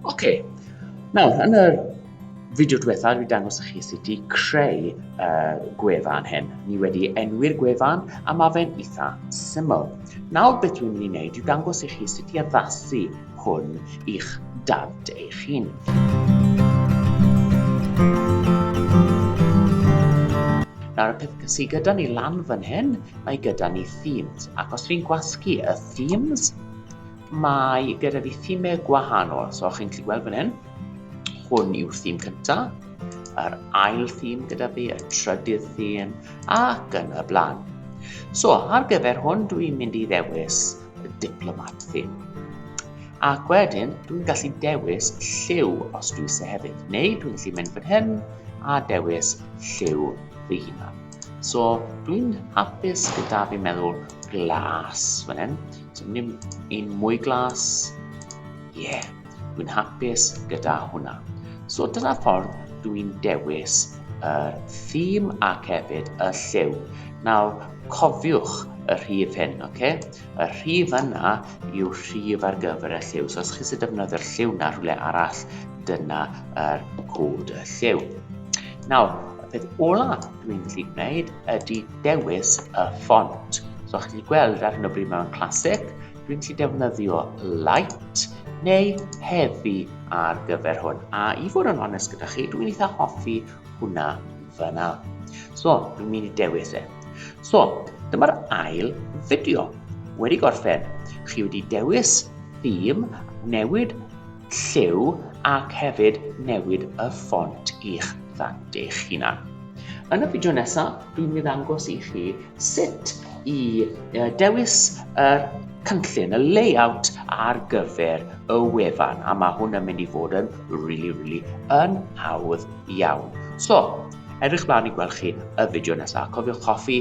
Oce, okay. nawr yn yr fideo diwetha dwi dangos i chi sut i creu uh, gwefan hyn. Ni wedi enwi'r gwefan a mae fe'n eitha syml. Nawr beth dwi'n mynd i wneud yw dangos i chi sut i addasu hwn i'ch dad eich hun. Nawr y peth sydd gyda ni lan fan hyn, mae gyda ni themes. Ac os dwi'n gwasgu y themes, Mae gyda fi theme gwahanol, so chi'n gallu gweld fan hyn, hwn yw'r theme cynta, yr ail theme gyda fi, y trydydd theme, ac yn y blaen. So, ar gyfer hwn, dwi'n mynd i ddewis y diplomat theme. Ac wedyn, dwi'n gallu dewis lliw os dwi eisiau hefyd, neu dwi'n gallu mynd fan hyn a dewis lliw fy hunan. So, dwi'n hapus gyda fi'n meddwl glas fan hyn, So ni'n un mwy glas. Ie, yeah, dwi'n hapus gyda hwnna. So dyna ffordd dwi'n dewis y uh, theme ac hefyd y lliw. Nawr, cofiwch y rhif hyn, oce? Okay? Y rhif yna yw rhif ar gyfer y lliw. So os chi sy'n defnyddio'r lliw na rhywle arall, dyna yr cod y lliw. Nawr, y peth ola dwi'n gallu gwneud ydy dewis y ffont. So chi wedi gweld ar hyn o bryd mae'n classic, dwi'n gallu defnyddio light neu heavy ar gyfer hwn. A i fod yn onest gyda chi, dwi'n eitha hoffi hwnna fyna. So, dwi'n mynd i dewis e. So, dyma'r ail fideo wedi gorffen. Chi wedi dewis theme, newid Lliw ac hefyd newid y ffont i'ch ddant eich hunan. Yn y fideo nesaf, dwi'n mynd angos i chi sut i dewis y cynllun, y layout ar gyfer y wefan, a mae hwn yn mynd i fod yn really, really yn hawdd iawn. So, edrych blaen i gweld chi y fideo nesaf. Cofiwch hoffi,